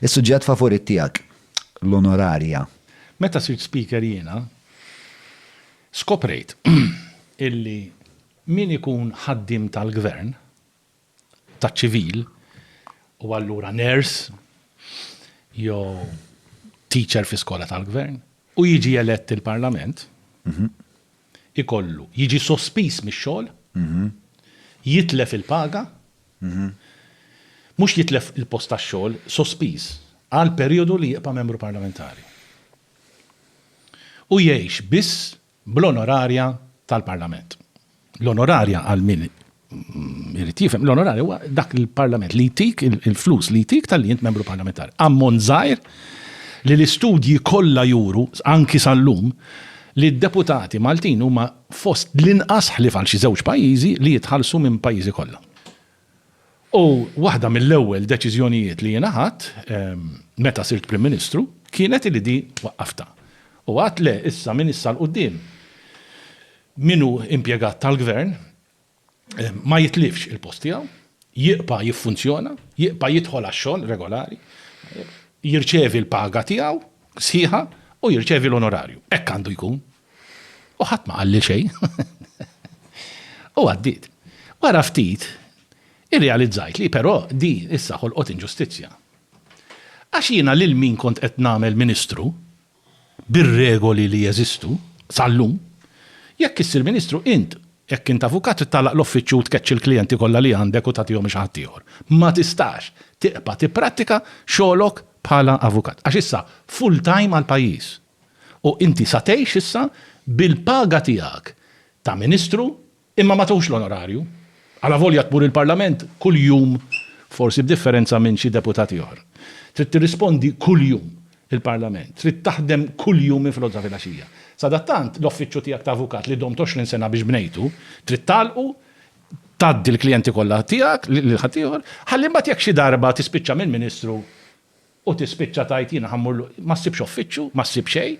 Is-suġġett favorit tiegħek, l-onorarja. Meta sirt Speaker jiena skoprejt illi min ikun ħaddiem tal-Gvern, taċ-ċivil, u allura nurse jew teacher fi skola tal-Gvern, u jiġi elett il-Parlament, ikollu jiġi sospiż mix-xogħol, jitlef il-paga, mhux jitlef il-post tax-xogħol sospiż għal perijodu li jibqa' Membru Parlamentari u jgħix biss bl-onorarja tal-Parlament. L-onorarja għal min irid jifhem, l-onorarja huwa dak li l-Parlament li jtik il-flus li jtik talli int Membru Parlamentari. Ammont żgħir li l-istudji kollha juru anki sal-lum li d-deputati Maltin huma fost l-inqas ħlief għal xi żewġ pajjiżi li jitħallsu minn pajjiżi kollha. U waħda mill-ewwel deċiżjonijiet li jiena ħadt meta sirt Prim Ministru kienet illi di waqqaftha. U għidt le, issa minn issa 'l quddiem min hu impjegat tal-Gvern, eh, ma jitlifx il-post tiegħu, jibqa' jiffunzjona, jibqa' jidħol għax-xogħol regolari, jirċevi l-paga tiegħu sħiħa u jirċevi l-onorarju. Hekk għandu jkun. U ħadd ma qalli xejn. U għaddit. Wara ftit, irrealizzajt li però di issa ħolqot inġustizzja. Għax jiena lil min kont qed nagħmel ministru, bir-regoli li jeżistu, sal-lum, jekk issir Ministru int, jekk int avukat trid tagħlaq l-offiċċju u tkeċċi l-klijenti kollha li għandek u tagħtihom xi ħadd ieħor. Ma tistax tibqa' tipprattika xogħlok bħala avukat. Għax issa full time għall-pajjiż. U inti sa tgħix issa bil-paga tiegħek ta' Ministru Imma ma tawx l-onorarju. Alavolja tmur il-Parlament kuljum, forsi b'differenza minn xi deputati oħra. Trid tirrispondi kuljum il-Parlament. Trid taħdem kuljum minn filgħodu sa filgħaxija. Sadattant, l-offiċċju tiegħek ta' avukat li domt għoxrin sena biex bnejtu, trid tagħlqu, tgħaddi l-klijenti kollha tiegħek lil ħaddieħor, ħalli mbagħad jekk xi darba tispiċċa minn Ministru u tispiċċa tgħid jiena ħa mmur, ma ssibx offiċċju, ma ssib xejn.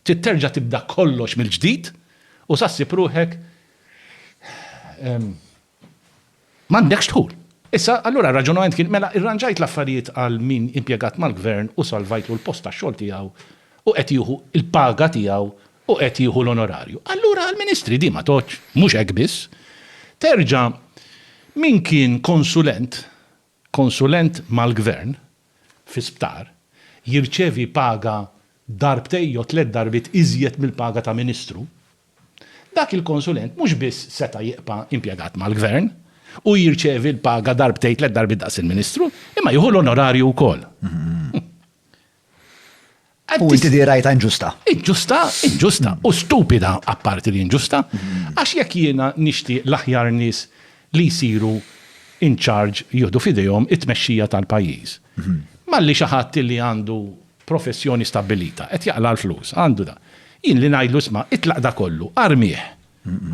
Trid terġa' tibda kollox mill-ġdid u sa ssib ruħek m'għandekx dħul. Issa, allura r-raġunament kien, mela irranġajt l-affarijiet għal min impjegat mal-Gvern u salvajtlu l-post tax-xogħol tiegħu u qed jieħu l-paga tiegħu u qed jieħu l-onorarju. Allura għall-Ministri din ma tgħoddx, mhux hekk biss. Terġa' min kien konsulent Konsulent mal-Gvern fi sptar jirċevi paga darbtejn jew tliet darbiet iżjed mill-paga ta' Ministru, dak il-konsulent mhux biss seta' jibqa' impjegat mal-Gvern u jirċevi l-paga darbtejn tliet darbiet daqs il-Ministru, imma jieħu l-onorarju wkoll. U inti di rajta inġusta. Inġusta, inġusta, u stupida apparti li inġusta, għax jekk jiena nixtieq l-aħjar nies li jsiru in charge jieħdu f'idejhom it-tmexxija tal-pajjiż. Malli xi ħadd li għandu professjoni stabbilita, qed jaqla' l-flus, għandu da. Jien li ngħidlu isma' itlaq da kollu, armih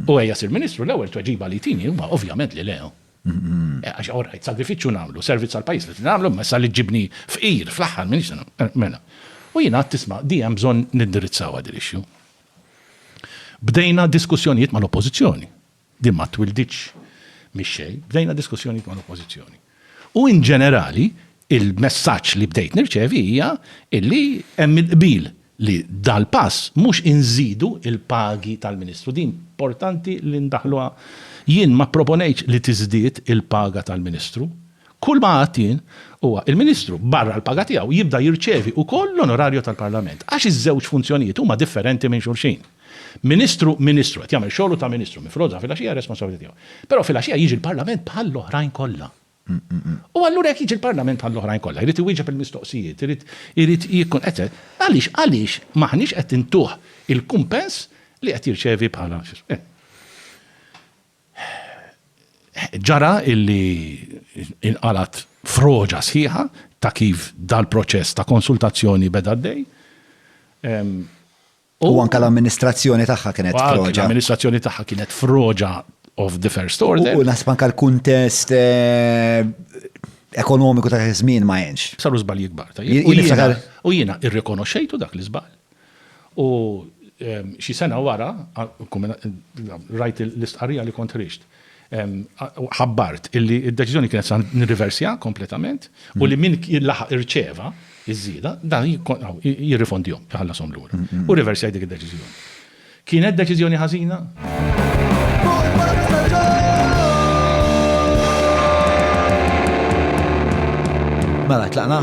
u ejja sir Ministru, l-ewwel tweġiba li jtini huwa ovvjament li le. Għax, orajt, sagrifiċċju nagħmlu, servizz għall-pajjiż li trid nagħmlu, imma issa li ġġibni fqir fl-aħħar m'iniex se nagħmel. Mela. U jien għedt isma' di hemm bżonn nindirizzawha din l-issue. Bdejna diskussjonijiet mal-Oppożizzjoni. Din ma twilditx mix-xejn, bdejna diskussjonijiet mal-Oppożizzjoni. U in ġenerali, il-messaġġ li bdejt nirċevi hija illi hemm il-qbil li dal-pass mhux inżidu l-pagi tal-Ministru. Din importanti li ndaħħluha. Jien ma pproponejtx li tiżdied il-paga tal-Ministru. Kull ma għidt jien huwa il-Ministru barra l-paga tiegħu jibda jirċevi wkoll l-onorario tal-Parlament għax iż-żewġ funzjonijiet huma differenti minn xulxin. Ministru, Ministru, qed jagħmel xogħlu ta' Ministru, minn filgħodu sa filgħaxija r-responsabbiltà tiegħu. Però filgħaxija jiġi l-Parlament bħall-oħrajn kollha. U allura jekk jiġi l-Parlament bħall-oħrajn kollha, jrid iwieġeb il-mistoqsijiet, irid, irid jikkun, et cet. Għaliex, għaliex m'aħniex qed intuh il-kumpens li qed jirċevi bħala x'ismu. Ġara illi inqalgħet froġa sħiħa ta' kif dal-proċess ta' konsultazzjoni beda għaddej. U anke l-amministrazzjoni tagħha kienet froġa. L-amministrazzjoni tagħha kienet froġa of the first order. U naħseb anke l-kuntest eh, ekonomiku ta' żmien ma jenx. Saru żball jikbar. U jiena irrikonoxxejtu dak l-iżball. U ehm, xi sena wara, rajt l-istqarrija li kont rixt. ħabbart illi d-deċiżjoni kienet sa nirriversja kompletament u li min laħaq irċeva iż-żieda dan jirrifondihom, jħallashom lura. U riversjaj dik id-deċiżjoni. Kienet deċiżjoni ħażina? Mela tlaqna?